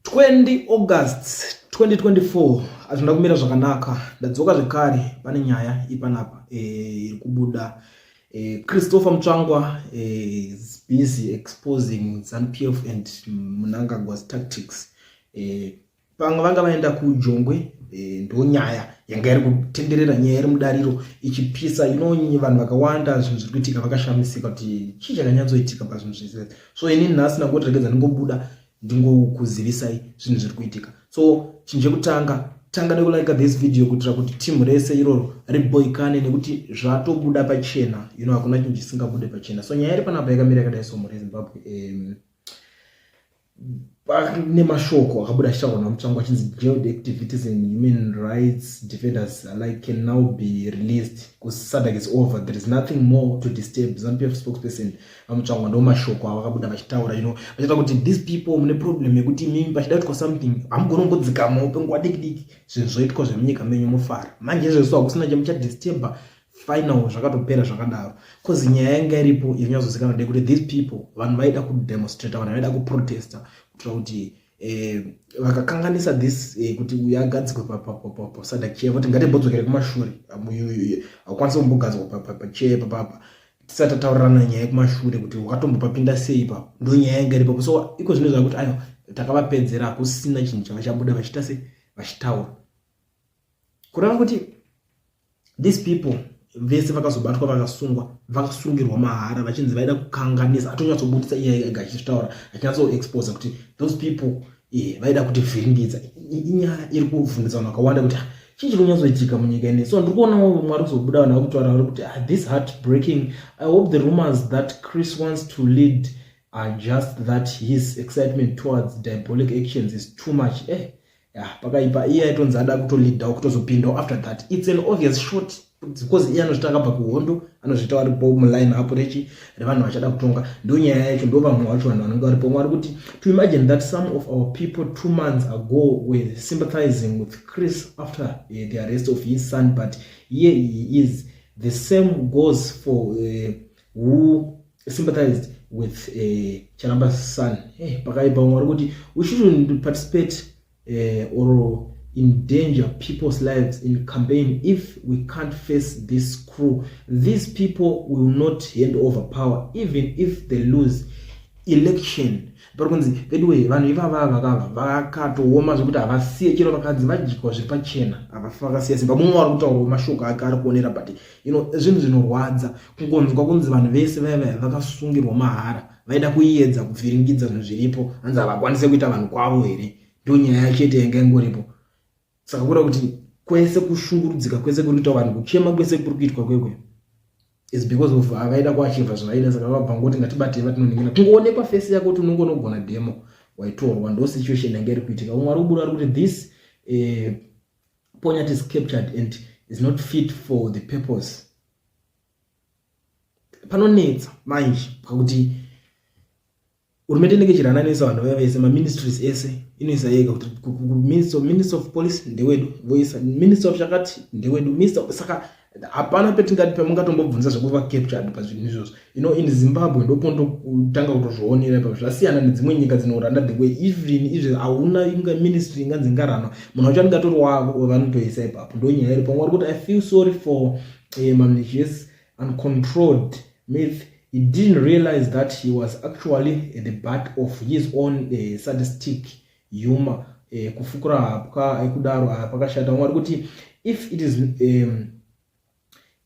20 August 2024 azvina kumira zvakanaka ndadzoka zvekare pane nyaya ipanapa eh, iri kubuda eh, Christopher Mutsvangwa eh, is busy exposing ZANPF and Mnangagwa's tactics pamwe vanga vaenda kujongwe eh, ndo nyaya yanga iri kutenderera nyaya iri mudariro ichipisa inonyi vanhu vakawanda zvinhu zviri kuitika vakashamisika kuti chii chakanyatsoitika pazvinhu zvese so ini nhasi ndangoti regedza ndingobuda ndingokuzivisai zvinhu zviri kuitika so chinhu chekutanga tanga nekulika this video kuitira kuti timu rese iroro riboikane nekuti zvatobuda pachena you know hakuna chinhu chisingabude pachena so nyaya iri panapa yakamira yakadai so mhuri yezimbabwe um, Pane mashoko akabuda achitaurwa naMutsvangwa achinzi jailed activities and human rights defenders alike can now be released because SADC is over. There is nothing more to disturb. ZANPF spokesperson VaMutsvangwa ndo mashoko avakabuda vachitaura ino vachita kuti these people mune problem yekuti mimi pachida kuitwa something hamugoni kungodzikamawo penguva diki diki zvinhu zvoitwa zvemunyika menyu mofara manje izvezvo hakusina chemuchadisturba final zvakatopera zvakadaro bcause nyaya yanga iripo yanyazozikana de kuti these people vanhu vaida kudemonstrata vanhu vaida kuprotesta kuitira kuti eh, vakakanganisa this eh, kuti uyo agadzikwe pasadak chair voti ngatibhodzokere kumashure hakwanisa kumbogadzwa pachair papapa tisati tataurirana nyaya yekumashure kuti wakatombopapinda sei ipapo ndo nyaya yanga iripo so iko zvino zva kuti ayo takavapedzera hakusina chinhu chava chabuda vachita se vachitaura kureva kuti these people vese vakazobatwa vakasungwa vakasungirwa mahara vachinzi vaida kukanganisa atonyatsobudisa iye ega achitaura achinyatsoexposa kuti those people eh, vaida kuti vhiringidza inyaya iri kuvhundisa vanhu vakawanda kuti ah, chii chiri kunyatsoitika munyika ine so ndiri kuonawo mwari kuzobuda vanhu vakutaura vari kuti ah, this heart breaking i hope the rumors that chris wants to lead are just that his excitement towards diabolic actions is too much eh, yeah, pakaipa iye aitonzi ada kutolidhawo kutozopindawo after that its an obvious short because iye anozvita akabva kuhondo anozvita wari po muline apo rechi revanhu vachada kutonga ndo nyaya yacho ndo vamwe vacho vanhu vanenge varipo mwari kuti to imagine that some of our people two months ago were sympathizing with chris after uh, the arrest of his son but here he is the same goes for uh, who sympathized with uh, eh, Chalamba's son. Hey, eh, pakaipa umwe kuti we shouldn't participate uh, or endanger people's lives in campaign if we can't face this crew. These people will not hand over power even if they lose election. Pari kunzi veduwe vanhu ivava vakava vakatooma zvekuti havasiye chero vakadzi vadyikwa zviri pachena havafakasiya simba mumwe wari kutaura mashoko ake ari kuonera but you know zvinhu zvinorwadza kungonzwa kunzi vanhu vese vaya vaya vakasungirwa mahara vaida kuiedza kuvhiringidza zvinhu zviripo hanzi havakwanise kuita vanhu kwavo here ndo nyaya chete yanga ingoripo saka kuda kuti kwese kushungurudzika kwese kuri kuita vanhu kuchema kwese kuri kuitwa kwekwe is because of avaida kuachivha zvavaida saka vabva ngoti ngatibatei vatinoningina kungoonekwa fesi yako kuti unongo unogona demo waitorwa ndo situation yanga iri kuitika umwe ari kubuda ari kuti this eh, Ponyati is captured and is not fit for the purpose. Panonetsa manje pakuti hurumende inenge ichirananisa vanhu vaya vese maministries ese inoisa yega kuti minister of police ndewedu voisa minister of chakati ndewedu minister saka hapana petingati pamungatombobvunza zvekuva captured pazvinhu izvozvo you know in zimbabwe ndopondotanga kutozvionera ipapo zvasiyana nedzimwe nyika dzinoranda the way even izvi hauna inga ministry inganzi ngaranwa munhu wacho anenge atori wavo vanotoisa ipapo ndo nyaya iri pamwe vari kuti i feel sorry for um, eh, mamnichies uncontrolled myth he didn't realize that he was actually the butt of his own uh, eh, sadistic yuma eh, kufukura hapwa ekudaro eh, ah, pakashata mwari kuti if it is um,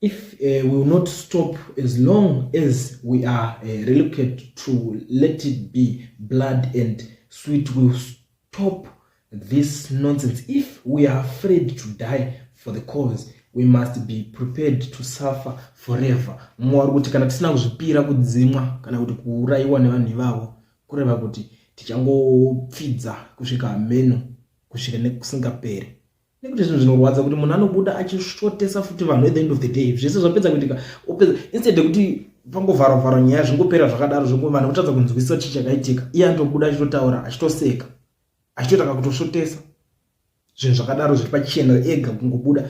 if uh, we will not stop as long as we are uh, reluctant to let it be blood and sweet will stop this nonsense if we are afraid to die for the cause we must be prepared to suffer forever mwari kuti kana tisina kuzvipira kudzimwa kana kuti kuurayiwa nevanhu ivavo kureva kuti tichangopfidza kusvika hameno kusvika nekusingaperi nekuti zvinhu zvinorwadza kuti munhu anobuda achishotesa futi vanhu at the end of the day zvese zvapedza kuitika opedza instead yekuti pangovharovharo nyaya zvingopera zvakadaro zvoku vanhu votadza kunzwisisa chii chakaitika iye anotobuda achitotaura achitoseka achitotanga kutosvotesa zvinhu zvakadaro zviri pachena ega kungobuda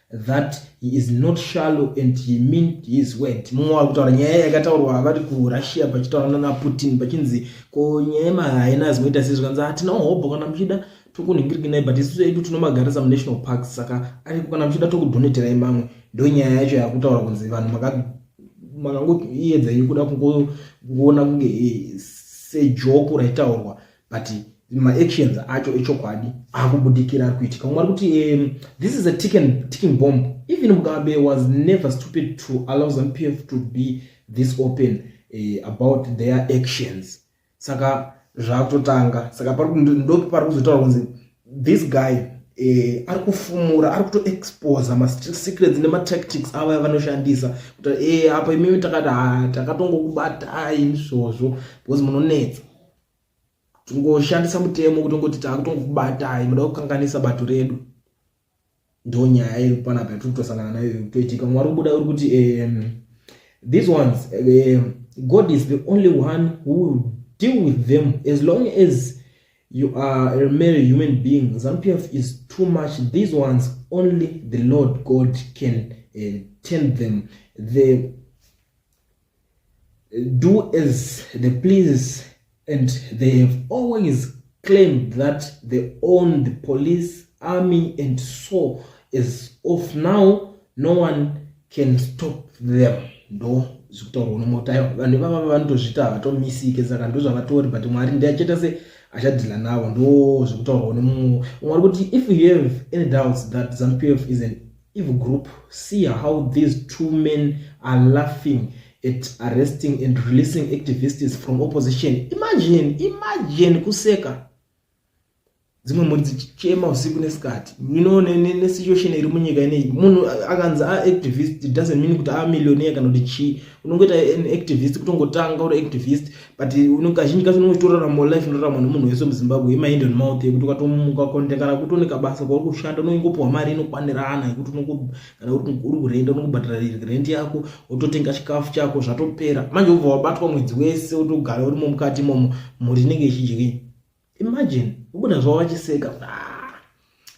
that he is not shallow and he meant his word mumwe wari kutaura nyaya yakataurwa vari kurussia pachitaura nana putin pachinzi ko nyaya yemahaina zimoita sei zvikanzi hatina hobho kana muchida tokunhingirikinai but isu edu tinomagarisa munational park saka ariko kana muchida tokudoneterai mamwe ndo nyaya yacho yakutaura kunzi vanhu makangoiyedza yekuda kungoona kunge eh, sejoko raitaurwa but maactions acho echokwadi akubudikira ari kuitika umwe ari kuti um, this is a ticking, ticking bomb even mugabe was never stupid to allow zampf to be this open uh, about their actions saka zvakutotanga saka ndopi pari kuzotaura kunzi this guy eh, ari kufumura ari kutoexposa masecrets nematactics avo yavanoshandisa kuti e eh, apa imimi takati takatongokubatai izvozvo because munonetsa tingoshandisa mutemo kuti ngoti takutongokubatai muda kukanganisa bato redu ndo nyaya iri panapa yatiri kutosangana nayo toitika mwari ubuda uri kuti um, these ones um, god is the only one who will deal with them as long as you are a mere human being zanupf is too much these ones only the lord god can uh, turn them the do as they please and they have always claimed that they own the police army and so as of now no one can stop them ndo zvekutaurwa nomota ivo vanhu ivava vanotozvita havatomisike saka ndo zvavatori but mwari ndiachita se achadhila navo ndo zvekutaurwa nemumwe umwe ari kuti if you have any doubts that zampf is an Eve group see how these two men are laughing at arresting and releasing activists from opposition imagine imagine kuseka dzimwe mhuri dzichichema usiku nesikati mino nesituation iri munyika ineyi munhu akanzi aactivist doesn't mean kuti aamillionaire kana kuti chii unongoita an activist kutongotanga uri activist but kazhinji kacho unenge uchitorarama life inorarama nemunhu wese muzimbabwe yemaindi and mouth yekuti ukatomuka konde kana kuti une kabasa kwauri kushanda unongopiwa mari inokwanirana yekuti kana uri kurenda unokubhadhara rent yako wototenga chikafu chako zvatopera manje ubva wabatwa mwedzi wese wotogara urimo mukati imomo mhuri inenge ichidyiwa imagine ubuda zvavo vachiseka ah,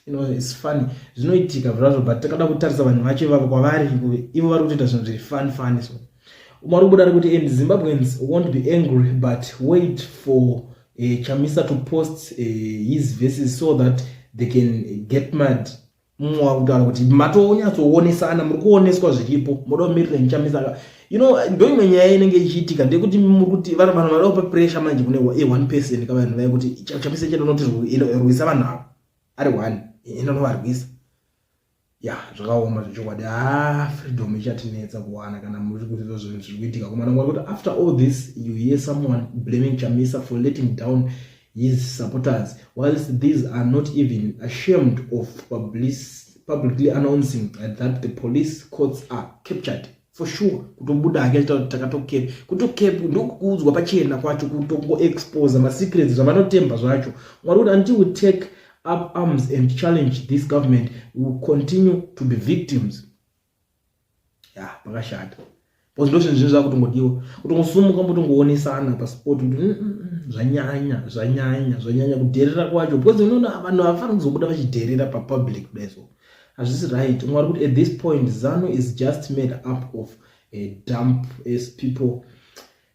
you know it's funny zvinoitika zvazvo but takada kutarisa vanhu vacho ivavo kwavari ivo vari kutoita zvinhu zviri fun fun so umari kubuda ari kuti and zimbabweans won't be angry but wait for uh, chamisa to post uh, his verses so that they can get mad mumwe wakutaura kuti matonyatsowonesana muri kuoneswa zviripo moda kumirira nichamisa you know ndo imwe nyaya inenge ichiitika ndekuti muri kuti vanhu vanhu vada kupa pressure manje kune e one person ka vanhu vaya kuti chamisa chete unoti rwisa vanhu avo ari one enda unovarwisa ya zvakaoma zvechokwadi ha ah, freedom ichatinetsa kuwana kana muri kuti zvo zvinhu zviri kuitika kumana mwari kuti after all this you hear someone blaming chamisa for letting down his supporters whilst these are not even ashamed of publicly announcing that the police courts are captured for sure kutobuda hake achita kuti takatokep kutokep ndokuudzwa pachena kwacho kutongoexposa masecrets zvavanotemba zvacho mwari kuti until we take up arms and challenge this government we will continue to be victims ya pakashata because ndozvinhu zvinhu zvakutongodiwa kutongosumuka mbotongoonesana paspot kuti mm, mm, mm, zvanyanya zvanyanya zvanyanya kudherera kwacho because unoona vanhu havafani kuzobuda vachidherera papublic kudaizvo hazvisi right mwari kuti at this point zanu is just made up of a dump as people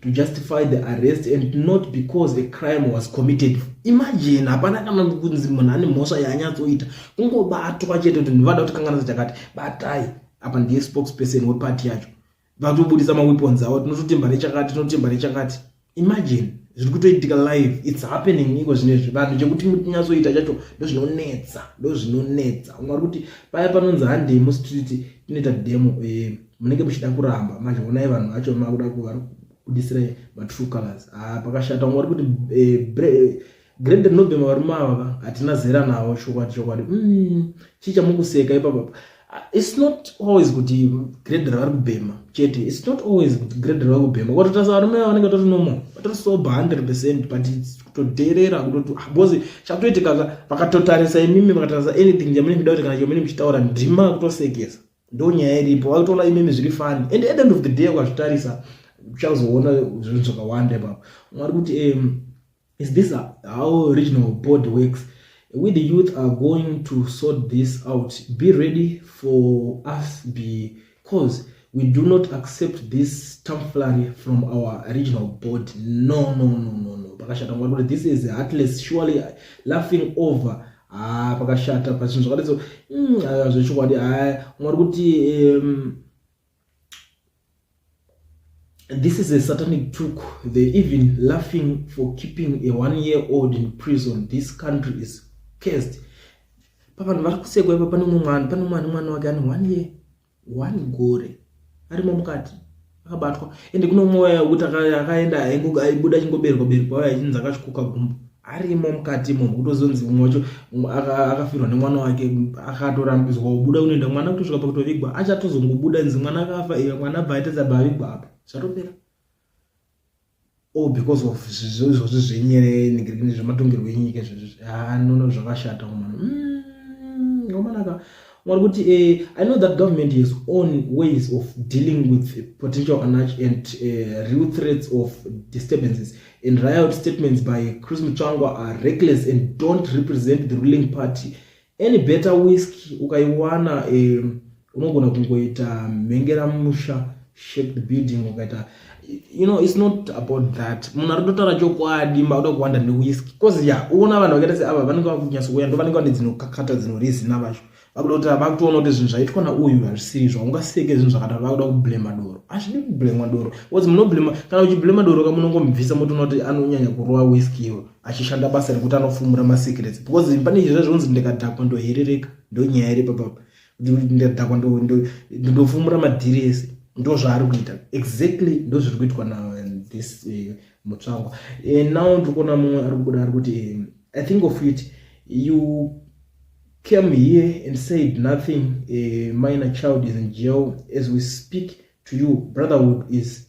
to justify the arrest and not because a crime was committed imagine hapana kana kunzi munhu ane mhosva yaanyatsoita kungobatwa chete kuti ndivada kuti kanganisa chakati batai apa ndiye spokesperson weparty yacho vatobudisa maweapons avo tinototemba nechakati tinototemba nechakati imagine zviri kutoitika live its happening iko zvine zvi vanhu chekuti munyatsoita chacho ndozvinonetsa ndozvinonetsa mwari kuti paya panonzi handei mustreet tinoita demo e munenge muchida kuramba manje onai vanhu vacho makuda kuvari kudisira matrue colors ah, pakashata ungori kuti eh, grade nobema varume avava hatina zera navo chokwadi chokwadi mm, chii chamukuseka ipapapa ah, its not always kuti grade ravari kubhema chete its not always kuti grade ravari kubhema kwatotarisa varume ava vanenge tori normal vatori sobe hundred percent but kutodherera kutoti ah, bcause chakutoitikaka vakatotarisa imimi vakatarisa anything chamunenge muda kuti kana chomene muchitaura ndima kutosekesa ndonyaya iripo vakutoona imimi zviri fani and at end of the day ukazvitarisa uchazoona zvinhu zvakawanda ipapo mwari kuti um, is this how regional board works we the youth are going to sort this out be ready for us because we do not accept this tomflary from our regional board no no no no no pakashata mwari kuti this is heartless surely laughing over ah pakashata pa zvinhu zvakadai so mm, ah, zvechokwadi ah, mwari kuti um, this is a satanic took they even laughing for keeping a one year old in prison this country is cursed pavanhu vari kusekwa ipa pane umwe mwana pane mwana mwana wake ane one year one gore arimo mukati akabatwa ende kune umwe waya wekuti akaenda aibuda achingoberwa berwa waya achinzi akasvikoka gumbo arimo mukati munhu kutozonzi umwe wacho akafirwa nemwana wake akatorambidzwa kubuda kunoenda mwana kutosvika pakutovigwa achatozongobuda nzi mwana akafa iye mwana abva aitadza bavigwa apa zvatopera oh because of izvozvi zvenyere nigirigini zvematongerwo enyika izvozvi anono ah, zvakashata kumana mm, wamanaka mwari kuti eh, i know that government has own ways of dealing with potential anarch and uh, real threats of disturbances and riot statements by chris muchangwa are reckless and don't represent the ruling party Any better whisky ukaiwana eh, unogona kungoita mhengera musha shaped building ukaita you know it's not about that munhu ari kutotaura chokwadi makuda kuwanda newhisky bcause ya uona vanhu vakaita seava vanenge vakunyasouya ndo vanenge vane dzinokakata dzinorizina vacho vakuda kuti vakutoona kuti zvinhu zvaitwa nauyu hazvisiri zvaungaseke zvinhu zvakadaro vakuda kublema doro hazvidi kublema doro bcause munoblema kana uchiblema doro ka munongomubvisa motoona kuti anonyanya kurova whisky iwo achishanda basa rekuti anofumura masecrets because pane izvi zvazvinonzi ndikadhakwa ndoherereka ndonyaya iri papapa ndadhakwa ndofumura madhiri ese ndo zvaari kuita exactly ndo zviri kuitwa nathis eh, mutsvangwa eh, now ndiri kuona mumwe ari kubuda ari kuti eh, i think of it you came here and said nothing a minor child is in jail as we speak to you brotherhood is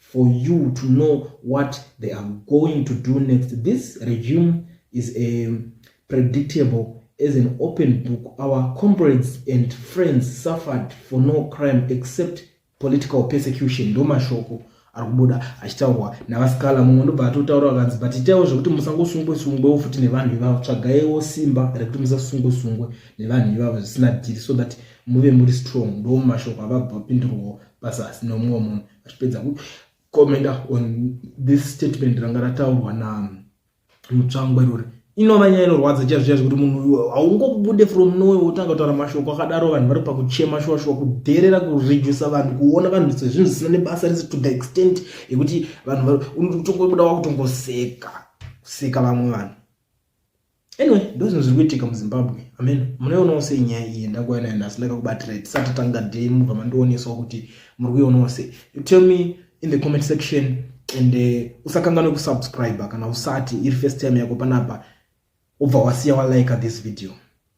for you to know what they are going to do next this regime is a um, predictable as an open book our comrades and friends suffered for no crime except political persecution ndo mashoko ari kubuda achitaurwa navasikala mumwe ndobva atotaura vakanzi but itaiwo zvekuti musangosungwe sungwewo futi nevanhu ivavo tsvagaiwo simba rekuti musasungwe sungwe nevanhu ivavo zvisina dhiri so that muve muri strong ndo mashoko avabva vapindurwawo pasasi nomumwe munhu vachipedza kukomenda on this statement ranga rataurwa na mutsvangwa irori inova nyaya inorwadza chaivo chaivo kuti munhu uyu haungobude from nowe wotanga kutaura mashoko akadaro vanhu vari pakuchema shuwa shuwa kudherera kuredusa vanhu kuona vanhu sezvinhu zvisina nebasa rese to the extent yekuti vanhu unotongobuda wakutongoseka kuseka vamwe vanhu anyway ndozvinhu zviri kuitika muzimbabwe amen munoionawo sei nyaya iyi ndakuuya nayo nhasi ndakakubatira tisati tanga day mubva mandionesawo kuti muri kuionawo sei you tell me in the comment section and uh, usakanganwe kusubscribe kana usati iri first time yako panapa ubva wasiya walike this video